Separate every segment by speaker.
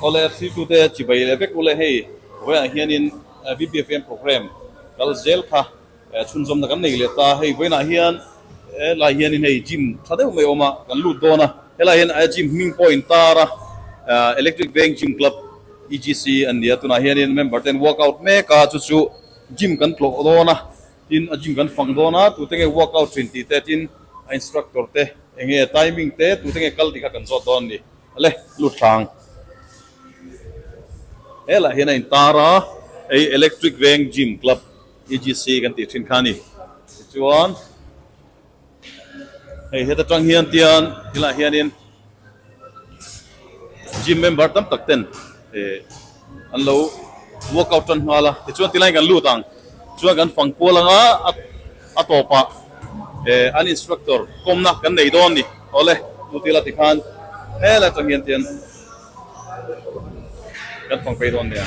Speaker 1: Kawlek thiltu te chibai leh vek u le, hei vawiinah hianin VPFM programme kal zel kha chhunzawmna kan nei leh ta, hei vawiinah hian helai hianin hei gym tha deuh mai awm a kan lut dawn a, helai hian gym hming pawhin tara electric veng gym club. EGC an nia tunah hianin member ten work out mek a chu chu gym kan tlawh dawn a tin a gym kan fang dawn a tute nge work out thin tih te tin a instructor te eng nge timing te tute nge kal tih kha kan zawt dawn a ni ale luttlang he lah hian a in tar a hei electric veng gym club EGC kan tih thin kha a ni tichuan hei heta tang hian tian khilaiah hianin gym member tam tak ten eh an lo workout tan nghal a tichuan ti lain kan lut ang chuan kan fang kual anga a tawpah eh an instructor kawmna kan nei dawn ni awle chu tila ti khan hela tang hian tian kan fang phei dawn nia.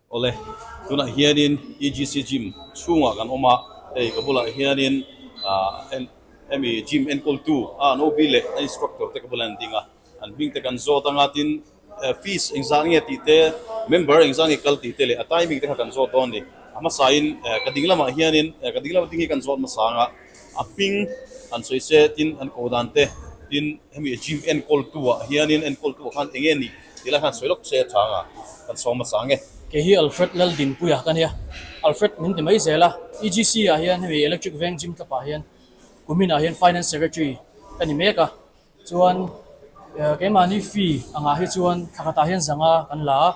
Speaker 2: Awle,
Speaker 1: tunah hianin EGC Gym chhungah kan awm a, hei ka bulah hianin hemi Gym enkawltu a nobi leh a instructor te ka bulah hian an ding a, an hming te kan zawt anga tin fees engzah nge tih te, member engzah nge kal tih te leh a timing te kha kan zawt dawn a ni. A hmasain ka ding lamah hianin, ka ding lam ding hi kan zawt hmasa anga. A hming an sawi se tin an ko dan te tin hemi gym enkawl tu ah hian in enkawl tu ah khan enge nih tih lai khan sawi lawk se a chang a kan sawm a chang e. Kei hi Alfred
Speaker 3: Laldinpuia ka nia, Alfred min ti mai zel a, EGC ah hian hemi Electric Veng Gym tlapah hian kumin ah hian Finance Secretary ka ni mek a. Chuan keimahni fee a ngah hi chuan thla khatah hian zanga kan la a,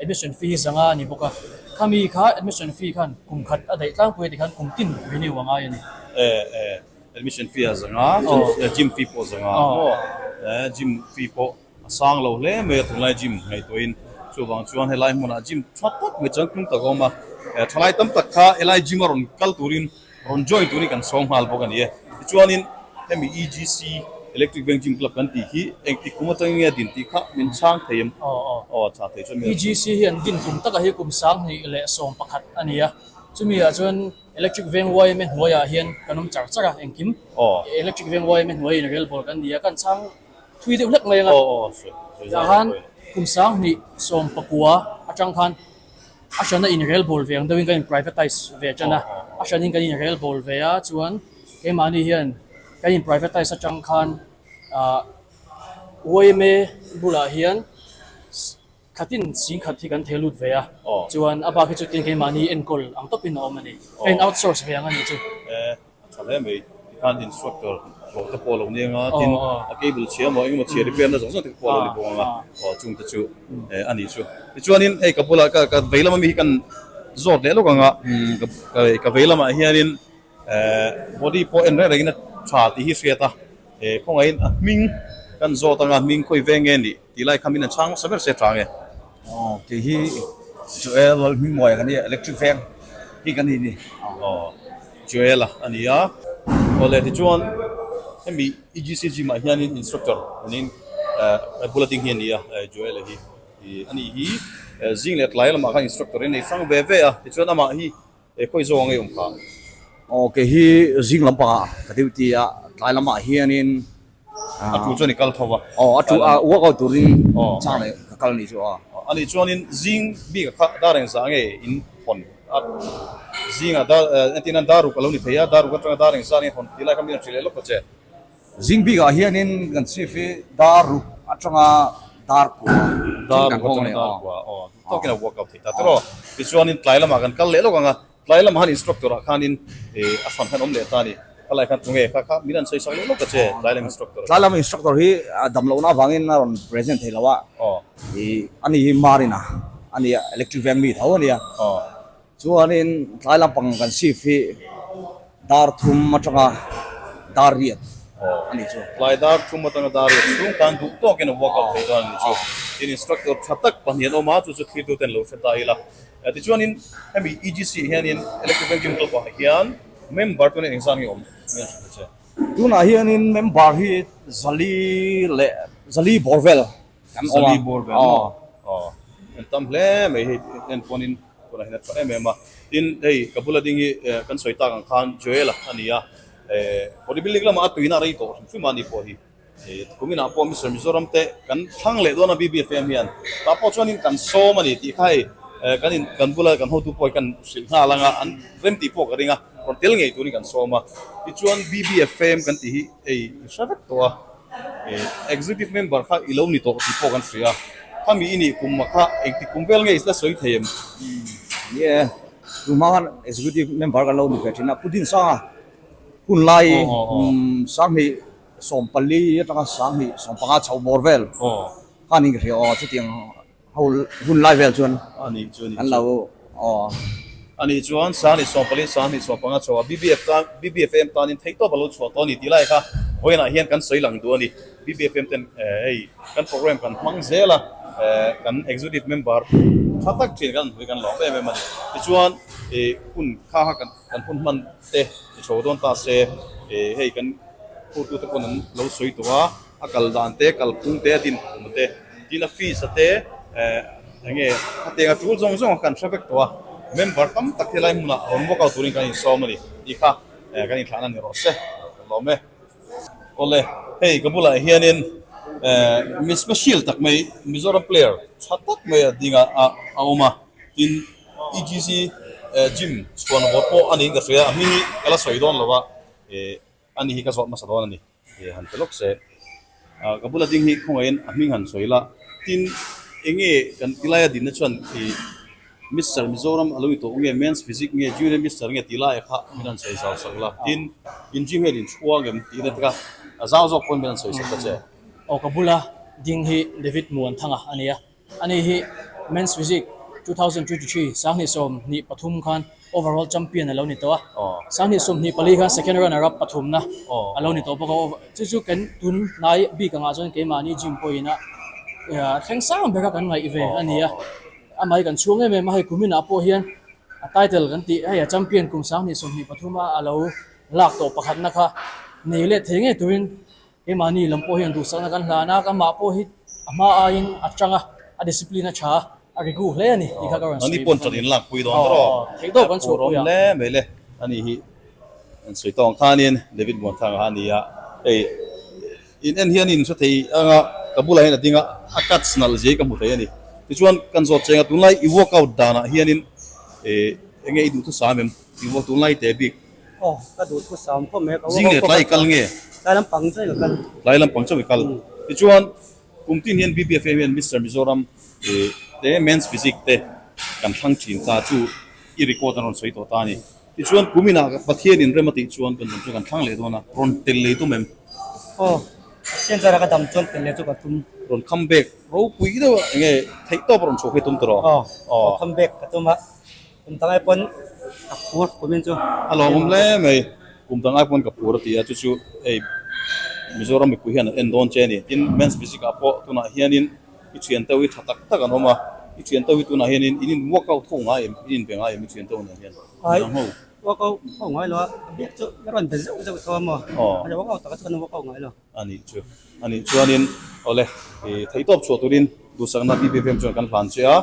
Speaker 3: admission fee hi zanga a ni bawk a. Khami kha admission fee khan kum khat a daih tlangpui a ti khan kum tin renew a ngai a ni. Eh eh,
Speaker 1: admission fee ah zanga, chuan gym fee pawh zanga maw? Eh, gym fee pawh a sang lo hle mai a, tunlai gym ngaihtuahin. Chuvang chuan helai hmunah gym chhuat tawk mai chuan tlung tak a awm a, thalai tam tak kha helai gym a rawn kal turin, Rawn join tur hi kan sawm nghal bawk a ni e. Tichuanin hemi EGC, Electric Veng Gym Club kan tih hi engtik kum atang enge a din tih kha min chhang thei em? Aw, a chhang thei chuan min rak chhang. EGC hi an din kum
Speaker 3: takah hi kum sang hnih leh sawm pakhat a ni a. Chumiah chuan Electric Veng YMA hnuaiah hian kan awm char char a, engkim. Electric Veng YMA hnuai in rel bawr kan ni a, kan chhang thui deuh hlek mai ang a. Aw, aw, sawi, sawi zau a ni pawh e. Tah khan kum sang hnih sawm pakua atang khan. a hriatna inrel bul ve ang deuhin ka in privatise ve a tan a, a hriatin kan inrel bul ve a chuan keimahni hian kan in privatise atang khan ah uaime bulah hian khatin chhing khat hi kan theh lut ve a, chuan a bak hi chu tin keimahni enkawl ang tawpin a awm a ni, a in outsource ve ang a ni chu. A tha hle mai.
Speaker 1: Tikhan instructor hlawh te pawh a lo neng a, tin a cable chhia emaw engemaw chhia repair na zawng zawng te ka pawh a lo ni bawk ang a, aw chungte chu a ni chu. Tichuanin hei ka bulah ka ka vei lama mi hi kan zawt leh lawk ang a, ka vei lamah hianin body pawh en reng rengin a tha tih hi hriat a, khawngaihin a hming kan zawt ang a, hming khawi ve nge ni? Tih lai kha min han chhang nasa ber se chang e. Aww kei hi
Speaker 4: Joel lal hming muai ang ania, electric veng hi kan nih ni. Aww
Speaker 1: Joel a ania. Aw le tichuan hemi EGC gym ah hianin instructor awnin a bula ding hi ania Joel a hi. Anih hi zing leh tlai lamah khan instructor in a i fang ve ve a, tichuan amah hi He khawi zawk angei awm kha. Aw
Speaker 4: kei hi zing lampangah ka duty a, tlai lamah hianin a.
Speaker 1: A tu chuan i kal tho va. Aw a tu a work
Speaker 4: out turin chang leh ka kal anih chu a. A nih chuanin
Speaker 1: zing bik a kha a dareng zah nge in hawn a zing a dar entirna daruk a lo ni thei a daruk atanga dareng zah nge hawn tih lai kha min rawn hrilh leh lawk ta che. Zing bik ah
Speaker 4: hian in kan chhip hi dar ruk atanga dar kua thin kan
Speaker 1: hawng ania aw. Tawk in a buak kap thei ta tawh. Tichuan in tlai lamah kan kal leh lawk ang a, tlai lamah han instructor ah khan in a fan khan awm leh ta a ni. Kha lai khan chunge kha kha min an sawi sak leh lawk a che tlai lam instructor ah. Tlai lam instructor hi
Speaker 4: a dam lohna avang in a rawn present thei lo a, a ni hi Marina a ni a, electric veng mi tho a ni a. Chuanin tlai lampang kan shift hi dar thum atanga dar riat a ni chu. Tlai dar thum atanga
Speaker 1: dar riat chhung tan duh tawkin a vuak loh theih dawn a ni chu. Tin instructor tha tak pahnih an awm a, chu chu thlir tute an lo hre ta ila. Tichuanin hemi EGC-ah hianin Electric Bank Chemical pahah hian member tuna inzam hi a awm ni awm tak a che.
Speaker 4: Tunah hianin member hi zali leh zali bawr vel kan awm a. Zali bawr vel maw? Aw.
Speaker 1: Kan tam hle mai hei hian chuanin. Tunah hin a chhuah em em a. Tin, hei ka bula ding hi kan sawi tak ang khan Joel-a a ni a. Body building lamah a tuina a rei tawh hrim hrim a ni pawh hi. Kuminah pawh Mister Mizoram te kan thlang leh dawn a BBFM hian. Tah pawh chuan in kan sawm a ni tih kha hei kan in, kan bula kan hotu pawh hi kan hrilh nghal ang a, an rem tih pawh ka ring a. Rawn tel ngei turin kan sawm a. Tichuan BBFM kan tih hi hei i hre vek tawh a. Executive member kha i lo ni tawh tih pawh kan hria a, kha mi i nih kum ah kha engti kum vel nge i la sawi thei em? Ni e, tun
Speaker 4: hma khan executive member kan lo ni ve thin a, Pu Din Sang a, hun lai sang hnih sawm pali atanga sang hnih sawm panga chho bawr vel khan i hria aw, chutiang. Hun hun lai vel chuan anih chu an lo
Speaker 1: aw. Anih chuan sang ni sawm pali sang ni sawm panga chhoa BBF tan BBFM tanin thei tawp alo chhuah tawh ani tih lai kha vawiinah hian kan sawi lang duh ani BBFM ten hei kan programme kan hmang zel a kan executive member tha tak thin kan hawi kan lawm em em ani tichuan hun kha kha kan kan hun hman te i chho dawn ta se hei kan hutute pawn an lo sawi tawh a. A kal dan te, kal phung te, a din phung te, tin a fees a te, eh, eng nge khatiang a tul zawng zawng a kan hre vek tawh a, member tam tak hi helai hmun ah rawn walk out tur in kan insawm a ni tih kha eh kan inthlahna a ni rawh se. Ka lawm e. Awle, hei ka bulah hian in eh mi special tak mai Mizoram player tha tak mai a ding ah ah a awm a, tin EGC eh gym chhuan vawt pawh a ni in ka hria, a hming hi ka la sawi dawn lo a, eh ani hi ka zawt hmasa dawn a ni. He han pe lawk se. Ahh ka bula ding hi khawngaihin a hming han sawi la, tin enge kan ti laia dinna chuan i Mister Mizoram a lo ni tawh nge, Men's Physique nge, Junior Mister nge ti laia kha min han sawi zau sak la, tin in gym hian in thu a ngem tih na tika zau zawk pawn min han sawi sak ta che. Aw ka bula
Speaker 3: ding hi David Muanthanga a nia. A ni hi Men's Physique two thousand twenty three Sanghnih sawm hnih pathum khan Overall Champion a lo ni tawh a, Sanghnih sawm hnih pali khan Second Runner up pathumna a lo ni tawh bawk a. Chu chu kan tun hnai bik angah chuan keimahni gym pawhinah thleng sang beka kan ngaih ve a ni a, a mei kan chhuang em em a, hei kuminah pawh hian a title kan tih hei a champion kum Sanghnih sawm hnih pathuma a lo lak tawh pakhatna kha nei leh thei ngei turin Keimahni lam pawh hian duhsakna kan hlan a, kanmah pawh hi a hma aiin a chang a, a discipline a tha a, a rigu hle a ni tih kha
Speaker 1: ka rawn sawi bawk a ni. Aw, theih deuh kan chhuah pui a.
Speaker 5: Zing leh tlai i kal nge?
Speaker 1: Tlai lampang chauh i ka
Speaker 5: kal. Tlai lampang chauh i kal.
Speaker 1: Tichuan, kum tin hian BPFA hian Mister Mizoram te, Men's Physique te kan thlang thin kha chu i record a rawn sawi tawh ta a ni. Tichuan, kum inah Pathian in rem a tih chuan kan dam chu kan thlang leh dawn a, rawn tel leh tum em?
Speaker 5: Aw, Pathian chuan a ka dam chuan tel leh chu ka tum. Rawn come back
Speaker 1: ropui deuh ah enge theihtawp a rawn chhuak hi a tum ta rawh? Aw, rawn come back
Speaker 5: ka tum a. Kum tangai pawn ka phur kumin chu a lawm awm hle mai.
Speaker 1: Kum tangai pawn ka phur a ti a, chu chu hei Mizoram mipui hian an en dawn che a ni. Tin, Men's Physics ah pawh tunah hianin i thianto hi tha tak tak an awm a, i thianto hi tunah hianin in in workout tho ngai em, in inbe ngai em i thianto nen hian? Inang ho. Workout tho
Speaker 5: ngai lo a, a bik chu i rawn be zeuh zeuh thawm maw? Aw. Workout takah chu kan workout ngai lo. A nih chu. A nih
Speaker 1: chuanin, Awle, i theih tawp chhuah turin duhsakna BBVM chuan kan hlan che a,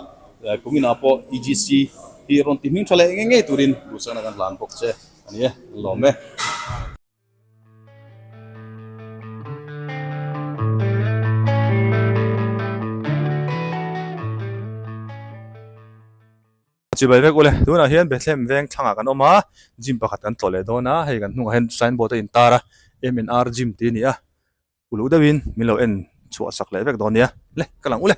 Speaker 1: kum inah pawh EGC hi rawn ti hming tha leh ngei ngei turin duhsakna kan hlan bawk che a ni e, an lawm e.
Speaker 6: Chibai vek ule, tunah hian Bethlehem veng thlangah kan awm a, gym pakhat kan tlawh leh dawn a, hei kan hnungah hian sign board a in tar a, MNR gym tih a ni a, uluk deuhin min lo en chhuah sak leh vek dawn nia, le ka lang ule.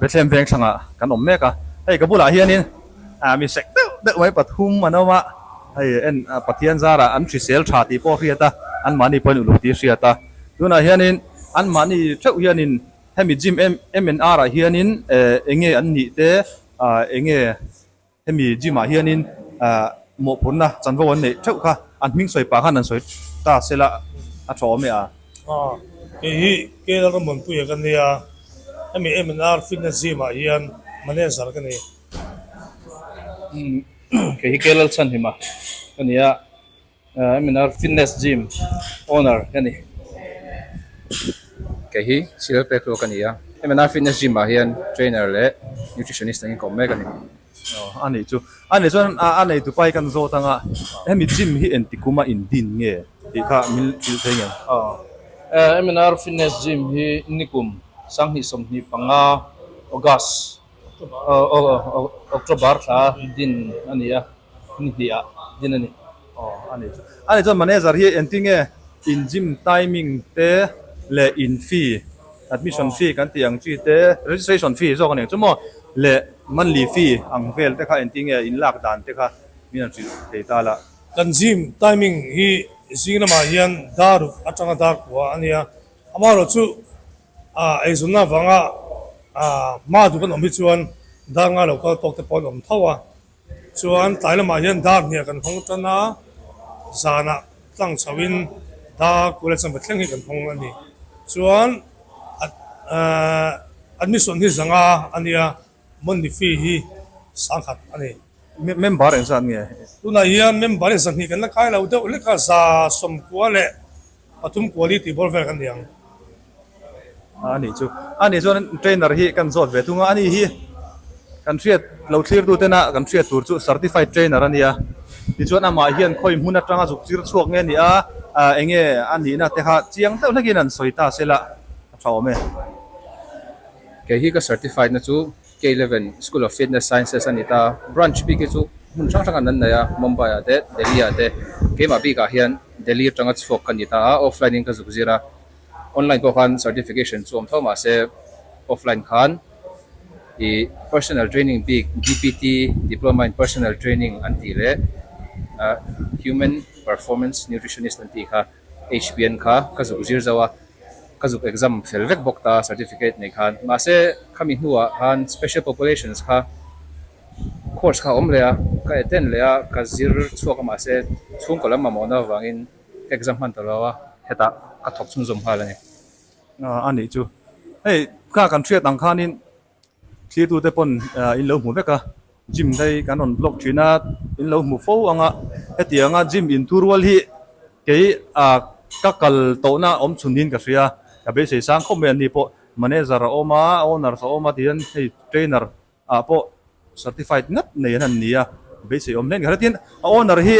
Speaker 6: Bethlehem veng thlangah kan awm mek a, hei ka bulah hianin mi sek deuh deuh mai pathum an awm a, hei en Pathian zarah an hrisel tha tih pawh a hriat a, anmahni pawhin uluk tih a hriat a, tunah hianin anmahni theuh hianin hemi gym MNR-ah hianin enge an nih te, enge. Hemi gym ah hianin mawhphurhna chanvo an neih theuh kha, an hming sawi pah khan an sawi ta sel a, a tha awm e a. Aa, kei
Speaker 7: hi KL Rawnbawnpuia ka nia, hemi MNR Fitness Gym ah hian manager ka ni.
Speaker 3: Kei hi KL Chan Hima ka nia, Eminar fitness gym owner ka ni
Speaker 8: kei hi sir pek hlua ka nia Eminar fitness gym ah hian trainer leh nutritionist an inkawm mek a ni aw a ni chu
Speaker 6: a ni chuan a nei tu pai kan zawt anga hemi gym hi enti kuma in din nge tih kha min hrilh theih ngei aw
Speaker 3: Eminar fitness gym hi nikum sanghnih sawmhnih panga August October thla din a ni a, ni hnih ah din a ni. Aw a ni chu.
Speaker 6: A ni chuan manager hi engti nge in gym timing te leh in fee, admission fee kan tih ang chi te, registration fee zawk a nih ang chu maw leh monthly fee ang vel te kha engti nge in lak dan te kha min han hrilh thei ta la. Kan gym
Speaker 7: timing hi zing lamah hian dar atanga dar khuaa a nia, amaherawhchu A eizawnna avanga hma duh kan awm hi chuan dar ngai lo kal tawk te pawh an awm tho a, chuan tlai lamah hian dar hnih ah kan hawng tan a, zanah tlang chhoh in dar kula chanve thleng hi kan hawng a ni. Chuan an misuan hi zanga a nia. Money fee hi sangkhat a ni. Member engzah
Speaker 6: an ngei? Tunah hian member
Speaker 7: in sahnih kan la khai lo deuh lek a, za sawm kua leh pathum kua li tihbawr vel kan ni ang.
Speaker 6: A ni chu. A ni chuan trainer hi kan zawt ve thung a, a ni hi kan hriat lo thlirtu tena kan hriat tur chu certified trainer a nia. Tichuan amah hian khawi hmun atanga zukchir chhuak nge ni a, eng nge a nihna te kha chiang deuh hlekin an sawi ta sela a tha awm e.
Speaker 8: Kei hi ka certified na chu K-Eleven School of Fitness Sciences a ni ta, branch bik hi chu hmun hrang hrangah nan nei a, Mumbai ah te, Delhi ah te, keimah bikah hian Delhi atanga chhuak ka ni ta a, offline in ka zuk zir a, online pawh khan certification chu awm tho mah se offline khan i personal training bik dpt, Diploma in Personal Training, an tih leh human performance nutritionist an tih kha. HPN kha ka zuk zir zo a, ka zuk exam fel vek bawk ta certificate nei khan. Mahse khami hnuah khan Special Populations kha course kha a awm leh a, ka attend leh a, ka zir chhuak a mahse chhungkaw lam mamawh na avangin ka exam hman ta lo a, hetah ka thawk chhungzawm nghal a ni. A nih
Speaker 6: chu hei ka kan hriat ang khanin Thlitu te pawn in lo hmu vek a, gym dei kan rawn vlog thin a, in lo hmu fo ang a, heti ang a gym in thu rual hi kei ka kal tawh na awm chhun niin ka hria, ka beisei sang khawp mai an nih pawh, manager a awm a, owners a awm a tihian hei trainer ah pawh certified ngat nei an han ni a, beisei awm hle ani ka hria, tin a owner hi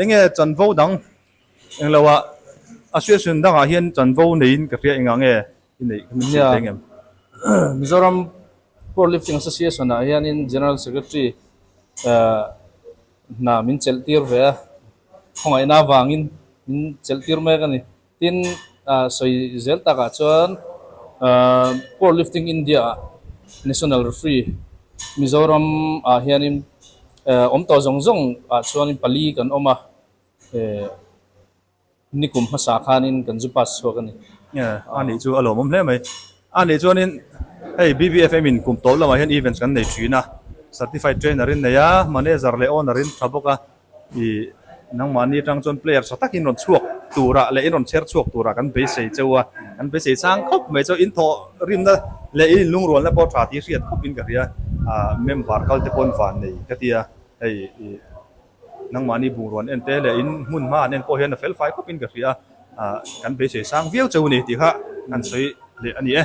Speaker 6: enge chanvo dang englo a association dangah hian chanvo neiin ka hria engah nge Mizoram
Speaker 8: Powerlifting Association ah hian in General Secretary hna min chelh tir ve a, khawngaihna vang in min chelh tir mek a ni. Tin, sawi zel tak ah chuan Powerlifting India ah National Referee Mizoram ah hian in awm tawh zawng zawng ah chuan in pali kan awm a. Ni kum hmasa khanin kan zu pass chhuak a ni. A nih chu
Speaker 6: a lawmawm hle mai. A nih chuanin hei BBFM in kum tawp lamah hian events kan nei thin a, certified trainer in nei a, manager leh owner in tha bawk a, i nangmahni atang chuan player tha takin rawn chhuak turah leh in rawn chher chhuak turah kan beisei cheu a, kan beisei chang khawp mai cheu, in thawh rimna leh in inlungrualna pawh tha tih hriat khawpin ka hria, member kalte pawn vannei ka tia hei i. Nangmahni bungrawn en te leh in hmun hma an en pawh hian a fel fai khawp in ka hria a, kan beisei sang viau cheu a ni tih kha kan sawi leh a ni e.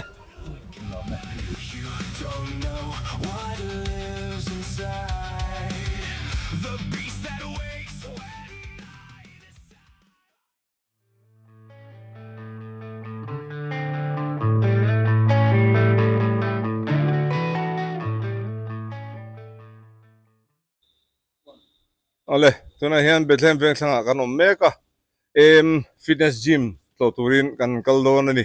Speaker 9: ale tunah hian bethlehem vengthlangah kan awm mek a em fitness gym tlawh turin kan kal dawn a ni.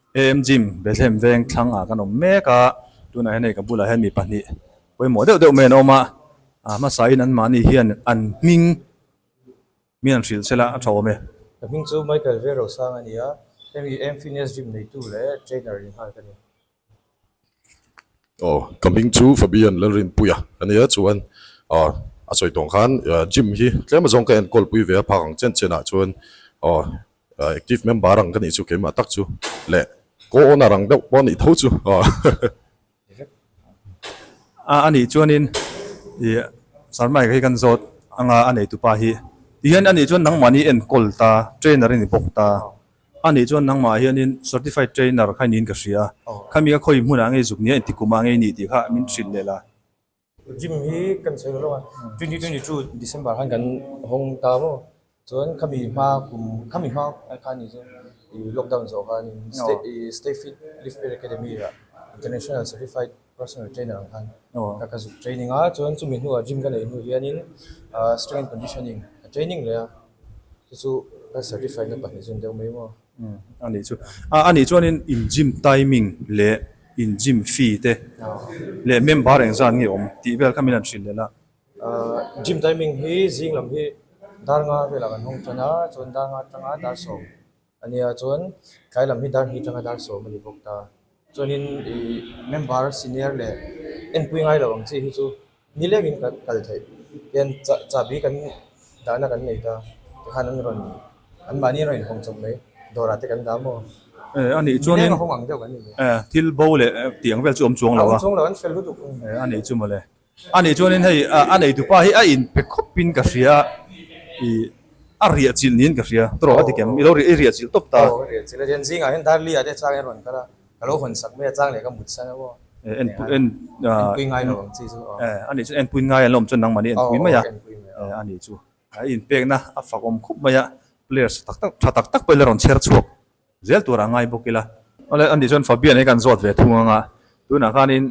Speaker 6: Em gym Bethlehem veng thlang ah kan awm mek a, tunah hian hei ka bulah hian mi pahnih pawimawh deuh deuh mai an awm a, ah hmasain an mahni hian an hming min an hrilh sel a, a tha awm e. Ka hming chu Michael
Speaker 10: Verosang a ni a, hemi Em Fitness Gym neitu leh trainer inhal ka ni. Aw
Speaker 11: ka hming chu Fabian Lalrinpui a ka nia chuan aw a sawi tawng khan gym hi tlem azawng ka enkawl pui ve a phak ang chen chenah chuan aw active member ang ka nih chu keimah tak chu leh co owner ang deuh pawh a nih tho chu aw
Speaker 6: a a nih chuanin ih sir Mike hi kan zawt anga a neitu pa hi tihian a nih chuan nangmahni enkawl ta trainer a ni bawk ta A nih chuan nangmah hianin certified trainer kha niin ka hria a, khami ka khawi hmunah ngei zuk nia enti kumah ngei nih tih kha min hrilh leh la. Gym
Speaker 10: hi kan sawi loh lova twenty twenty two December khan kan hawng ta maw chuan khami hma kum khami hma khan ni chuan i lockdown zawh khanin stay fit live fit academy ah international certified Personal trainer ang khan ka ka zuk training a chuan chumi hnua gym ka nei hnu hianin strength and conditioning ka training leh a chu chu ka certify na pahnih zun deuh mai maw a nih chu
Speaker 6: a a nih chuanin in gym timing leh in gym fee te leh member eng zan nge awm tih vel kha min han hrilh leh la ahh gym
Speaker 10: timing hi zing lam hi dar nga velah kan hawng tana chuan dar nga atanga dar sawm. Ania chuan tlai lam hi dar hi tanga dar sawm a ni bawk ta. Chuanin i member senior leh enpui ngai lo ang chi hi chu ni lekin ka kal theih. Chuan chahbi kan dahna kan nei ta, tikhan an rawn, anmahni an rawn inhawng chawp mai, dawrah te kan dah maw? Eh, a nih chuan
Speaker 6: in. Ni lek a hawng ang deuh kan ni. Eh,
Speaker 10: thil bo leh
Speaker 6: tiang vel chu a awm chuang lo a. A awm chuang lo, an fel lutuk.
Speaker 10: Eh, a nih chu mawle.
Speaker 6: A nih chuan in hei a nei tu pa hi a in pe khawp in ka hria i a riah chilh niin ka hria tawrh a ti kem i lo i riah chilh tawp ta. Aw ka riah chilh a chen zingah
Speaker 10: hian Darlia te chang in rawn kal a ka lo hawn sak mai a chang leh ka mut sa lo aw en pui
Speaker 6: ngai lo ang chi chu
Speaker 10: aw a nih chuan en pui ngai
Speaker 6: alawm chuan nangmahni en pui mai a a nih chu a in pekna a fak awm khawp mai a players tha tak tak pawh i la rawn chher chhuak. Zel tur a ngai bawk ila. Awle ani chuan Fabian hi kan zawt ve thung anga tunah khanin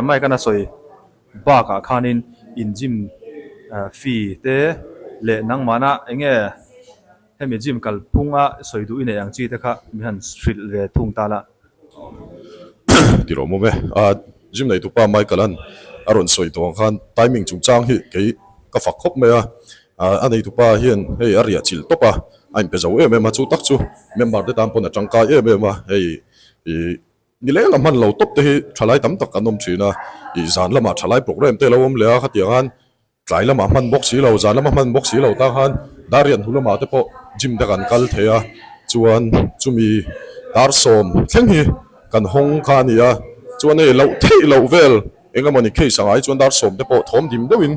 Speaker 6: Mike an a sawi bakah khanin in gym fee te leh nangmahna enge hemi gym kalpunga sawi duh i neih ang chi te kha mi han hrilh ve thung ta lah. Tih
Speaker 11: loh mawm e. A gym neihtu pa Michael-a'n a rawn sawi tawh ang khan timing chungchang hi kei ka fak khawp mai a. A neitu pa hian hei a riahchilh tawp a, a inpe zo em em a, chu tak chu member te tan pawn a tangkai em em a. Hei ih ni leng a hman lo tawp te hi tha lai tam tak an awm thin a, ih zan lamah tha lai programme te a lo awm leh a, khatiang an Tlai lamah hman bawk si lo, zan lama hman bawk si lo ta khan Darian hnu lamah te pawh gym te kan kal thei a, chuan chumi dar sawm thleng hi kan hawng kha a ni a, chuan hei loh theih loh vel eng emaw ni case angah hi chuan dar sawm te pawh thawm dim deuhin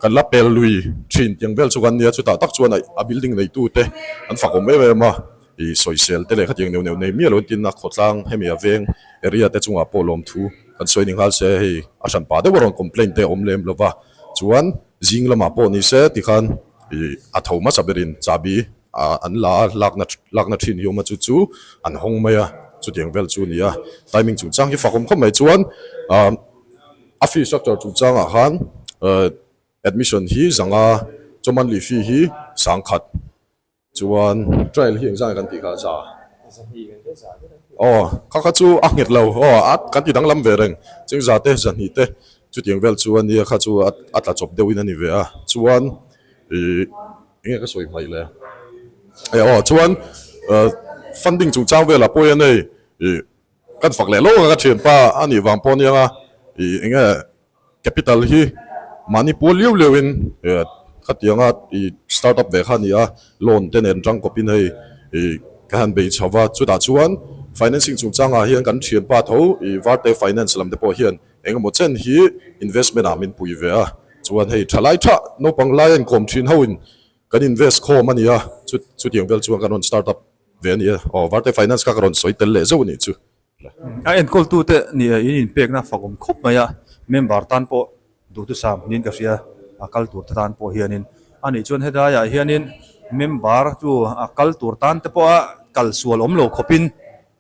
Speaker 11: kan la pel lui thin tiang vel chu kan ni a, chutah tak chuan a building neitute an fakawm em em a. I sawisel te leh khatiang neuh neuh nei miah loin tinna khawtlang hemi a veng area te chungah pawh lawmthu kan sawi ni nghal se hei a hran pah deuha rawn complain te a awm lem lova chuan zing lamah pawh ni se tikhan i a tho hmasa berin chahbi a an la a lakna lakna thin hi awm a chu chu an hawng mai a chutiang vel chu nia timing chungchang hi fakhawm khawm mai chuan umm a fee structure chungchang ah khan admission hi zanga chaw monthly fee hi sangkhat Chuan trial hi engzângin kan tih kha a châ a? Aw, kha kha chu a nghet lo. Aw, a kan ti danglam ve reng. Chingzâ te, zahnih te, chutiang vêl chu a nia, kha chu a tla chawp deuhin a ni ve a. Chuan ih, enge ka sawi hmaih le? Aw, chuan funding chungchâng vêlah pawhin a nei. Kan fak leh lo a ka thianpa a nih vang pawh a niang a, i enge capital hi mahni pual liau liau in khatiang a i start up ve kha a ni a, loan te nen tang kawp in hei i ka han bei chho va, chutah chuan financing chung chang ah hian kan thianpa tho i varte finance lam te pawh hian eng emaw chen hi investment ah min pui ve a, chuan hei tha lai tha naupang lai a inkawm thin ho in, Kan invest khawm a nia, chu chutiang vel chuan kan rawn start up ve a ni e. Aw, Varte Finance kha ka rawn sawi tel leh zeuh a nih chu. A enkawl-tute
Speaker 6: nih in inpekna fangawm khawp mai a, member tan pawh duhtusam niin ka hria, a kal tur te tan pawh hianin. A nih chuan helaiah hianin member chu a kal tur tan te pawha kal sual awm lo khawpin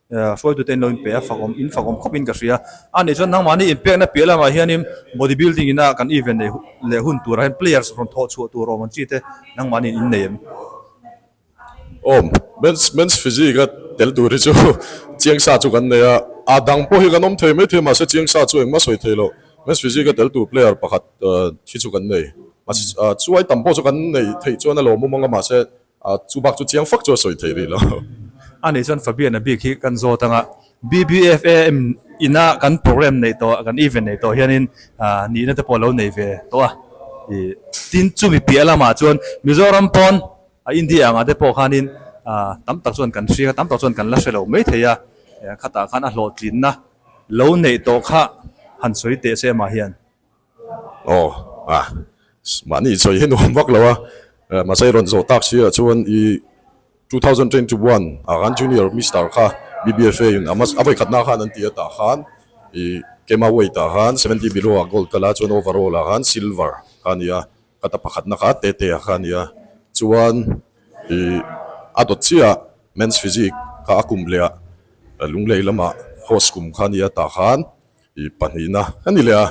Speaker 6: Hruaitute in lo inpe a, fak awm in fak awm khawp in ka hria. A nih chuan nangmah ni inpekna piah lamah hianin body building ina kan event nei leh hun turah hian players rawn thawh chhuah tur awm ang chi te nangmah ni in nei em? Awm.
Speaker 11: Men's men's physique a tel tur hi chu chiang sa chu kan nei a, a dang pawh hi kan awm thei maithei mahse chiang sa chu engmah sawi thei loh men's physique a tel tur player pakhat hi chu kan nei. Mahse chuan a chuai tam pawh chu kan nei theih chuan a lawm awm ang a mahse A chu bak chu chiang fak chu a sawi thei rih lo. A nih chuan
Speaker 6: Fabian-a bik hi kan zawt ang a, BBFAM ina kan programme neih tawh, kan event neih tawh hian in nihna te pawh lo nei ve tawh a ni. Tin, chumi piah lamah chuan Mizoram pawn a India ang ah te pawh khan in tam tak chuan kan hriang a, tam tak chuan kan la hre lo mai thei a, khatah khan a hlawhtlinna lo neih tawh kha han sawi teh se amah hian. Aw ah
Speaker 11: mahni i chawi hi nuam vak lo a, mahse i rawn zawh tak sir ah chuan i two thousand twenty one ah khan junior Mister kha BBFA in a hmasa a vawi khat na khan an ti atah khan i kema weight ah khan seventy below ah gold ka la chuan overall ah khan silver kha a ni a, kata pakhat na kha teh teh ah kha a ni a, chuan i a dawt chiah ah men's physique kha a kum leh ah lunglei lamah horse kum kha a ni atah khan I pahnihna ka ni leh a,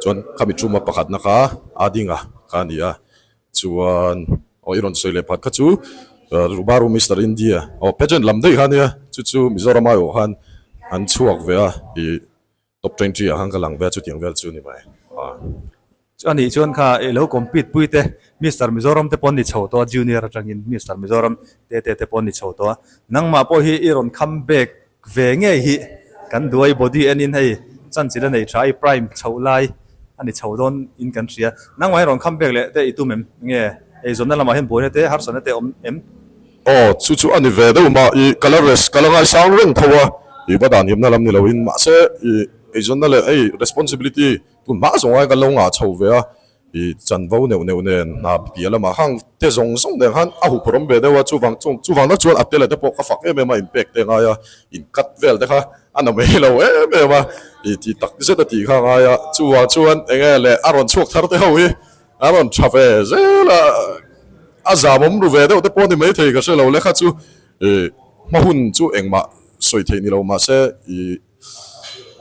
Speaker 11: chuan kha mi ṭhuma pakhatna kha a ding a kha a ni a, chuan aw i rawn sawi leh pakhat kha chu Rubaru Mister India aw pageant lam daih kha a nia, chu chu Mizoram ai awh khan an chhuak ve a, i top twenty ah khan ka lang ve a chutiang vel chu a ni mai.
Speaker 6: Chu anih chuan kha i lo compete pui te Mister Mizoram te pawh an ni chho tawh a, Junior atangin Mister Mizoram te te te pawh an ni chho tawh a, nangmah pawh hi i rawn come back ve ngei hi, kan duai body en in hei chanchin a nei tha i prime chhoh lai a ni chho dawn in kan hria, nangmah hi rawn come back leh te i tum em? Nge hei zawmna lamah hian buaina te harsatna te a awm em? Aw, chu chu
Speaker 11: a ni ve deuh mah i, ka la rest ka la ngaisang reng tho a, i va dan himna lam ni lo in, mahse i eizawnna leh hei responsibility Hmunhma zawngai ka lo ngah chho ve a, i chanvo neuh neuh nen hna piah lamah hang te zawng zawng nen khan a hup rawm ve deuh a, chuvang chung chuvang deuh chuan a te leh te pawh ka fak em em a, in pek te ngai a, in cut vel te kha a na mai lo em em a, i tih tak zet a tih kha ngai a, chuvang chuan enge le a rawn chhuak thar te ho hi a rawn tha ve zel a, a zamawm ru ve deuh te pawh ni mai thei ka hre lo, lekha chu i hma hun chu engmah sawi theih ni lo mahse i.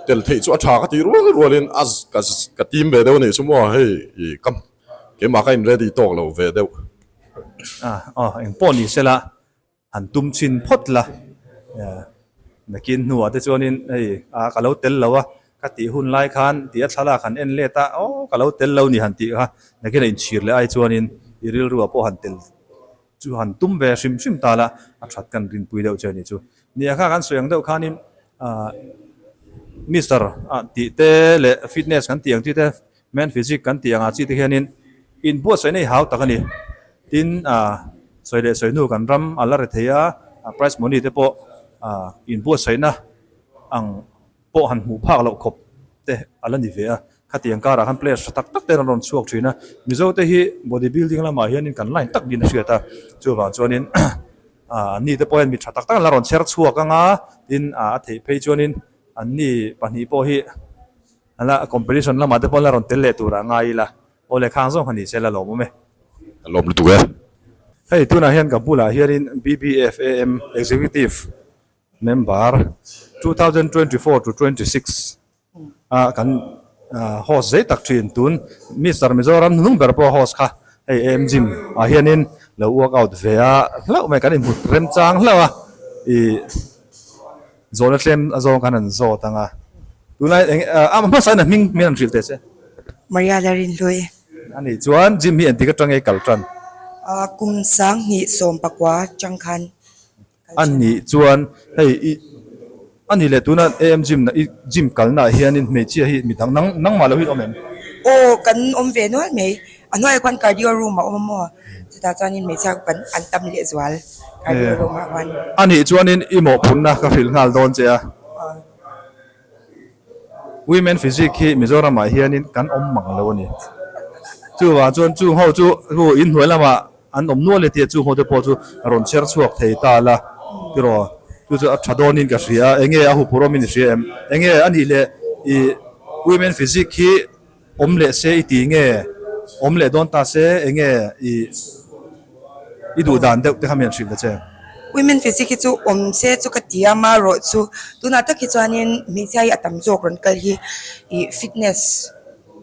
Speaker 11: Tel theih chu a tha ka tih rual rual in a ka tim ve deuh anih chu maw hei i ka keimah ka in ready tawk lo ve deuh.
Speaker 6: Aw eng pawh ni sela han tum chin phawt la nakin hnuah te chuan in hei a ka lo tel lo a ka tih hun lai khan ti a thlalak han en let a aw ka lo tel lo ni han tih kha nakin a in chhir leh ai chuan in i rilru ah pawh han tel chu han tum ve hrim hrim ta la a that ka rinpui deuh che anih chu. Ni a kha kan sawi ang deuh khanin Mister a tih te leh Fitness kan tih ang chi te Men Physique kan tih anga chi te hianin in buatsaih na hi hau tak a ni. Tin a sawi leh sawi hnu kan ram a la re thei a, prize money te pawh in buatsaih na ang pawh han hmuh phak loh khawp te a la ni ve a, khatiang karah khan players tha tak tak te an rawn chhuak thin a, Mizo te hi body building lamah hianin kan line tak niin a hriat a, chuvang chuanin an ni te pawh hian mi tha tak tak an la rawn chher chhuak ang a, tin a theih phei chuanin an ni pahnih pawh hi an la competition lamah te pawh an la rawn tel leh tur a ngai ila, aw le khang zawng kha ni se la lawm awm e. A lawm lutuk e.
Speaker 11: Hei tunah
Speaker 6: hian ka bulah hianin BBFAM Executive Member, two thousand twenty four to twenty six a kan host zet tak thin tun Mister Mizoram hnung ber pawh host kha hei em gym ah hianin lo work out ve a hlauh mai kan inhmut rem chang hlauh a i zawhna tlem zawng khan an zawt ang a tunah eng a hmasa in a hming min han hrilh teh che. Maria
Speaker 12: Larinhlui. Anih chuan
Speaker 6: gym hi engtik atangei kal tan? Kum
Speaker 12: sangni sawmpakua tangkhan. Anih
Speaker 6: chuan hei i ani leh tuna am gym na i gym kalnaah hianin hmeichhia hi mi dang nang nang mah loh hian awm em? Aw kan
Speaker 12: awm ve nual mai, a hnuaiah khuan cardio room a awm a maw, chutah chuanin hmeichhia kut kan an tam leh zual cardio room ah khuan. Anih chuanin i
Speaker 6: mawhphurhna ka hrilh nghal dawn che a. Women physique hi Mizoramah hianin kan awm mang lo a ni. Chuvah chuan chung ho chu aw in hnuai lamah an awm nual e tih a, chung hote pawh chu a rawn chher chhuak thei ta la. Tiraw, chu chu a tha dawnin ka hria a, enge a hup ur awm i ni hria em? Enge a nih leh i women physique hi. Awm leh se i ti nge? Awm leh dawn ta se, enge i i duh dan deuh te kha mi an hrih ve che. Women Physic hi
Speaker 12: chu awm se chu ka ti a, ma rawh chu tunah tak hi chuanin hmeichhia hi a tam zawk rawn kal hi i fitness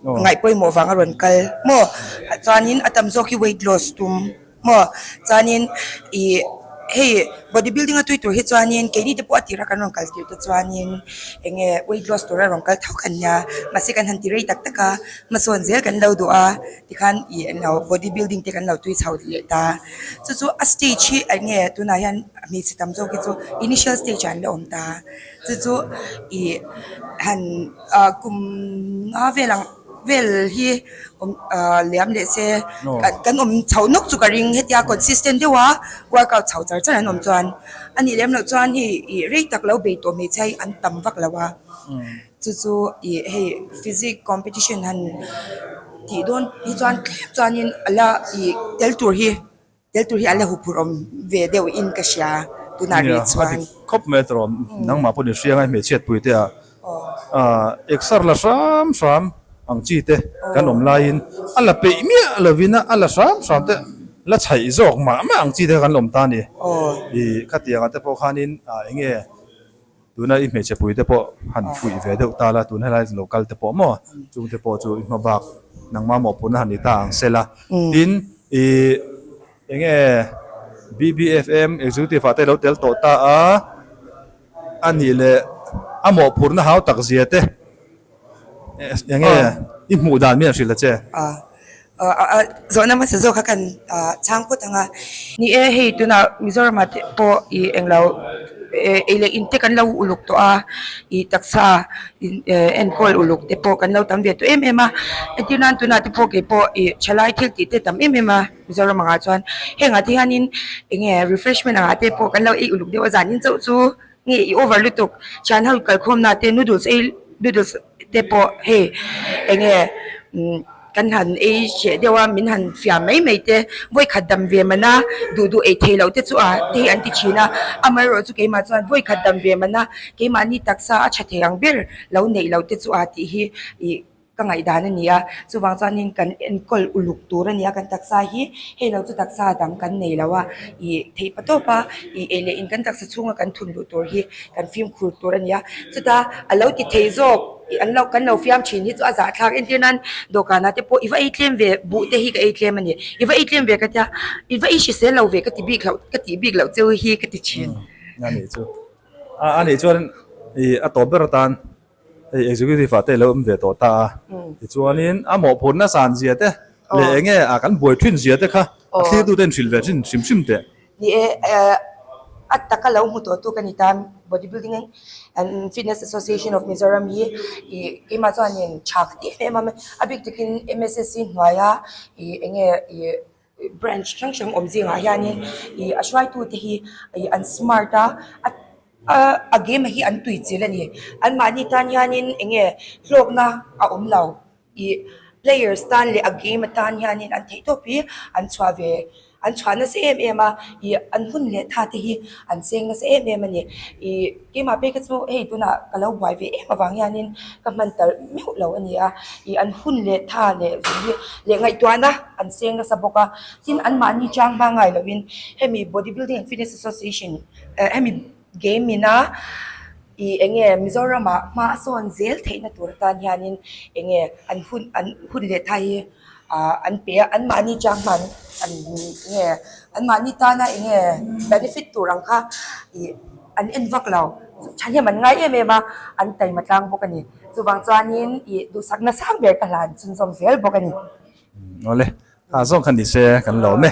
Speaker 12: ngaih pawimawh vang a rawn kal maw, chuanin a tam zawk hi weight loss tum. Maw chuanin ih hei body building a tui tur hi chuanin keini te pawh a tirah kan rawn kal tir te chuanin eng nge weight loss tura rawn kal thauh kan nia mahse kan han ti rei tak tak a hmasawn zel kan lo duh a tikhan ih englo body building te kan lo tui chho leh ta chu chu a stage hi eng nge tunah hian hmeichhe tam zawk hi chu initial stage ah an lo awm ta chu chu ih han ah kum nga vel ang. Vel hi liam leh se kan awm chho nawk chu ka ring hetia consistent deuh a work out chho char char an awm chuan a nih lem loh chuan hei ih rei tak lo bei tawh hmeichhia hi an tam vak lo a chu chu ih hei physics competition han tih dawn hi chuan tlem chuan in a la ih tel tur hi. Tel tur hi a la huphurh awm ve deuh in ka hria tunah ri chuan. Nia, a dik khawp mai a tur awm.
Speaker 6: Nangmah pawh ni hria ngai hmeichhiat pui te ah exer la hram hram ang chi te kan awm lai in a la peih miah lo in a la hram hram te la chhaih zawk mah mah ang chi te kha kan la awm ta a ni. Khatiang ah te pawh khan in enge Tuna i hmeichhe pui te pawh han fuih ve deuh ta la, tun helai lo kal te pawh maw chung te pawh chu i hma bak nangma mawhpurna han ni ta ang se la. Tin, i eng nge BBFM Executive-ah te i lo tel tawh ta a, a nih leh a mawhphurna hau tak zia te. Enge i hmuh dan miah hrilh a che?
Speaker 12: Zawhna hmasa zawk kha kan chhang phawt ang a. Ni e, hei tunah Mizorama te pawh i englo ei leh in te kan lo uluk tawh a, i taksa enkawl uluk te pawh kan lo tam ve tawh em em a, entir nan tunah te pawh kei pawh i thalai thiltih te tam em em a Mizoram angah chuan. Hengah te hianin enge refreshment angah te pawh kan lo ei uluk deuh a zanin chauh chu. Nge i over lutuk? Thian ho kalkhawmna te noodles ei noodles te pawh hei eng nge kan han ei cheh deuh a min han fiah mai mai te vawikhat dam ve man a duh duh ei theih loh te chu a te hi an ti thin a amaherawh chu keimah chuan vawikhat dam ve man a keimahni taksa a tha thei ang ber lo neih loh te chu a tih hi ih-- ka ngaihdan a ni a, chuvang chuanin kan enkawl uluk tur a ni a, kan taksa hi hei lo chu taksa dang kan nei lo a, ih theipa tawpa ih ei leh in kan taksa chhunga kan thun luh tur hi kan fimkhur tur a ni a, chuta a lo ti thei zawk ih an lo kan lo fiam thin hi chu a zahthlak entirnan dawhkanah te pawh i va ei tlem ve buh te hi ka ei tlem a ni, i va ei tlem ve ka tia i va ei hrisel lo ve ka ti bik hlauh ka tih bik loh cheu hi ka ti thin.
Speaker 6: Ih a nih chuan ih a tawp ber atan Hei Executive-ah te i lo awm ve tawh ta a, tichuanin a mawhphurh nasan zia te leh eng nge a kan buai thin zia te kha a thlirtu ten hrilh ve thin hrim hrim teh. Ni e,
Speaker 12: a taka lo hmu tawh tu ka ni ta, Bodybuilding and Fitness Association of Mizoram hi keimah chuan in tha ka tih hle em a, a bik takin MSSC hnuaia eng nge Branch hrang hrang awm zingah hianin ih a hruaitute hi ih an smart a a game a hi an tui chilh a ni anmahni tan hianin eng nge hlawkna a awm lo ih players tan leh a game atan hianin an thei tawp hi an chhuah ve an chhuah nasa em em a ih an hun leh tha te hi an seng nasa em em a ni ih-- Keimah pawh ka chu hei tunah ka lo buai ve em avang hianin ka hman tarh meuh lo a ni a, ih an hun leh tha leh vun leh ngaihtuahna an seng nasa bawk a, tin anmahni chang hma ngai loin hemi Bodybuilding and Fitness Association eh hemi game ina ih eng nge Mizoramah hmasawn zel theihna tur atan hianin eng nge an hun an hun leh tha hi, Ahh an pe a an mahni chang hman an nge an mahni tana eng nge benefit tur ang kha ih an en vak lo thahnem an ngai em em a an taima tlang bawk a ni chuvang chuanin ih duhsak na sang ber ka hlan an chunzawm zel bawk a ni. Awle
Speaker 6: ah zawk kha nise kan la awm e.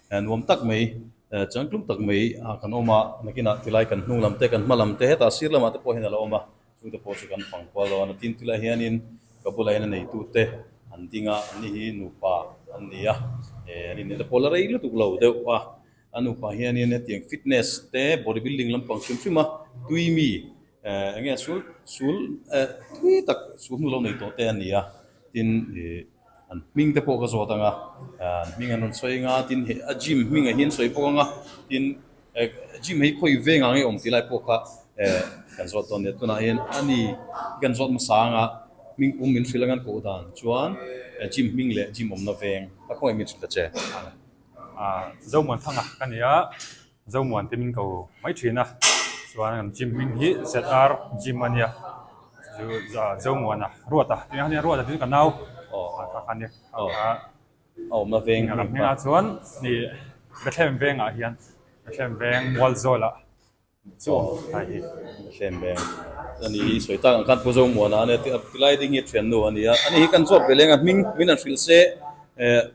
Speaker 1: nuam tak mai, chang tlum tak mai kan awm a, nakinah tilai kan hnung lam te, kan hma lam te, hetah sir lamah te pawh hian a lo awm a, chute pawh chu kan fang kual lo a, natin ti lah hianin ka bu lahin a neitute an ding a, an ni hi nupa an ni a, an inneih te pawh la rei lutuk lo deuh a, a nupa hianin hetiang fitness te body building lampang hrim hrim a tui mi enge sul sul tui tak sulhnu lo nei tawh te a ni a, tin ih. An hming te pawh ka zawt anga, an hming an rawn sawi anga, tin he a gym hmingah hi an sawi bawk anga, tin gym hi khawi veng ang i awm tih lai pawh kha kan zawt dawn leh tunah hian a ni. I kan zawt hmasa anga hming pum min hrilh anga an koh dan chuan gym hming leh gym awmna veng a khawngaih min hrilh ta che.
Speaker 13: Zohman thanga ka ni a, Zomuan te min ko mai thin a chuan an gym hming hi zr gym a nia chu zomuan a ruat a tia hian ruat a tin ka nau kha kha ni kha a
Speaker 1: awmna veng a hming a chuan
Speaker 13: hei Bethlehem vengah hian Bethlehem veng Mualzawl ah chu a awm Bethlehem veng
Speaker 1: a ni hi sawi tak ang khan pu Zomuan a ania ti lai ding hi a thiannu a nia a ni hi kan chhuak ve leng a hming min han hrilh se eh.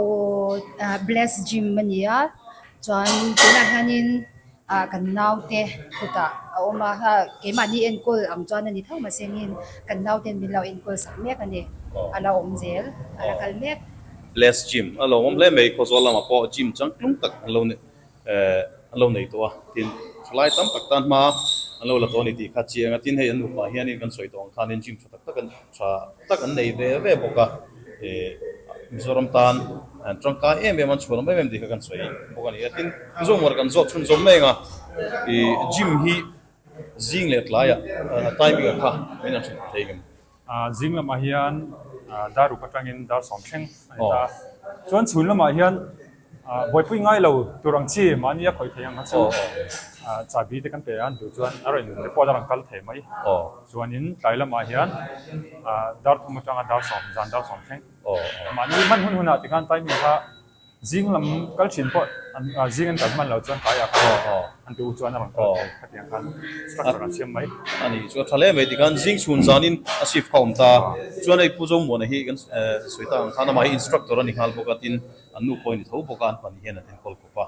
Speaker 1: Aww
Speaker 14: bless gym a ni a chuan tunah hianin ahh kan naute kutah a awm a keimahni enkawl ang chuan a ni thauh mah se angin kan naute an lo enkawl sak mek a ni a la awm zel a la kal mek. Bless gym
Speaker 1: a lo awm hle mai khawzuar lamah pawh gym changtlung tak an lo nei. an lo nei tawh a, tin, khawlai tam tak tan hma an lo la tawh a ni tih kha a chiang a, tin, hei an nupah hianin kan sawi tawh ang khanin gym tha tak tak an tha tak an nei ve ve bawk a, Mizoram tan an tangkai em em an chhuah hlawm em em tih kha kan sawi bawk a ni a, tin, Mizoramah kan zawk chhunzawm mai ang a, gym hi zing leh tlaiah timing ah kha min han chhun thei ngam. A zing lamah
Speaker 13: hian dar uk atangin dar sawm thleng a ni ta a. Chuan chhun lamah hian buaipui ngai lo tur ang chi mahni a khawih theih ang kha chu chahbi te kan pe a ni duh chuan a rawn report a rawn kal thei mai. Chuanin tlai lamah hian dar thum atanga dar sawm zan dar sawm thleng. Mahni hman hun hunah tikhan timing kha. Zing lam kal thin pawh an zing an kal hman lo chuan kaiah khan an duh chuan a rawn kal thei khatiang khan structure an siam mai. A nih chu a tha hle mai
Speaker 1: tikhan zing chhun zanin a shift kha awm ta chuan hei Pu Zomuana hi kan sawi ta ang khan amah hi instructor a ni nghal bawk a tin an nu pawh a ni tho bawk a an pahnih hian an en kawl khawp a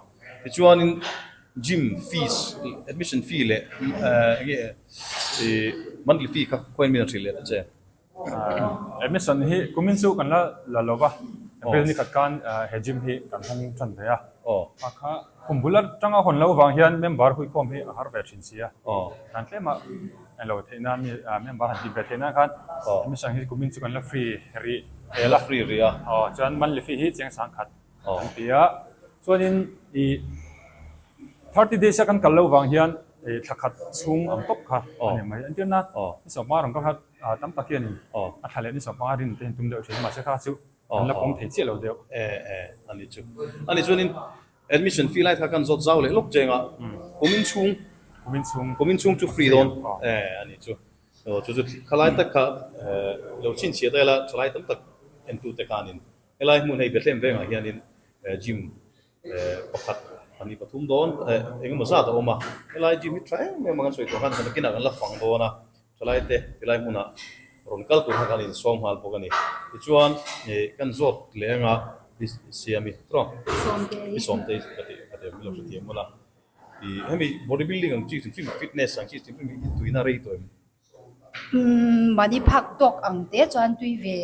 Speaker 1: tichuanin gym fees admission fee leh enge monthly fee kha khawiamin a hrilh let a che. He
Speaker 13: mission hi kumin chu kan la la lo va, bel ni khat khan he gym hi kan hmang than ve a. Hma kha khum bul atanga hawn loh vang hian member huikhawm hi a har ve thin si a. Tlan tlema en lo theih nan hi member han tih ve theih nan khan he mission hi kumin chu kan la free rih tel a. Free rih a.
Speaker 1: Aw chuan monthly fee
Speaker 13: hi chiang sang khat an ti a. Chuanin i thirty days a kan kal lo vang hian thla khat chhung ang tawp kha a ni mai. Entirna ni sawm hma ram ka hlat. A tam tak hian a thla leh ni zawk panga rin te in tum deuh thin, mahse kha chu kan la pawm thei chiah lo deuh. A ni chu.
Speaker 1: A ni chuanin admission fee lai kha kan zawt zau leh lawk cheng a, kum in chhung, kum in chhung chu free dawn. A ni chu. Aw, chu chu khalai tak kha lo chhinchhiah ta ila thalai tam tak en tute khanin helai hmun hei Bethlehem vengah hianin gym, pakhat a ni pathum dawn eng emaw zat a awm a helai gym hi tha em em a kan sawi tawh khan kan nakin ah kan la fang dawn a thalai te tilai hmun ah rawn kal tur kha kan insawm nghal bawk a ni tichuan ih kan zawt leh ang a siam i trawng i sawm te ka ti ka ti ang milo hrethiam hun a ih hemi body building ang chi fitness ang chi tuihna rei tawh em.
Speaker 14: Mahni phak tawk ang te chuan tui ve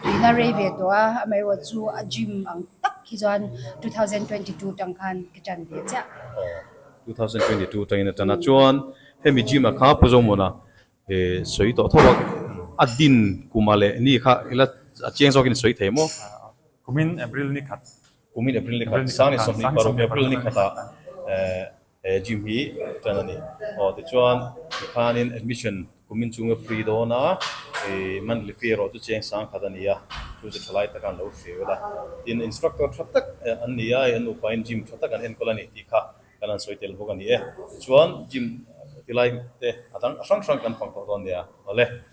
Speaker 14: tuihna rei ve tawh a, amaherawhchu chu a gym ang tak khi chuan two thousand twenty two tang khan ka tan ve chiah.
Speaker 1: Two thousand twenty two tangin a tan a, chuan hemi gym a kha Pu Zawngmuna sawi tawh tho a, a din kuma leh ni kha ila a chiang zawkin a sawi thei maw? Kumin
Speaker 13: April ni khat. Kum in April nikhat
Speaker 1: Sang leh Sawhli paruk April nikhat ah he gym hi ṭan a ni. Aw tichuan tikhan in admission kum in chunga free dawn a, monthly fee erawh chu cheng sang khat a ni a, chu chu thalai taka an lo hreu la. Tin, instructor ṭha tak an ni a, an upa in gym ṭha tak an enkawl a ni tih kha kan han sawi tel bawk a ni e. Tichuan gym ti lai te a hrang hrang kan fang tawh dawn nia. Awle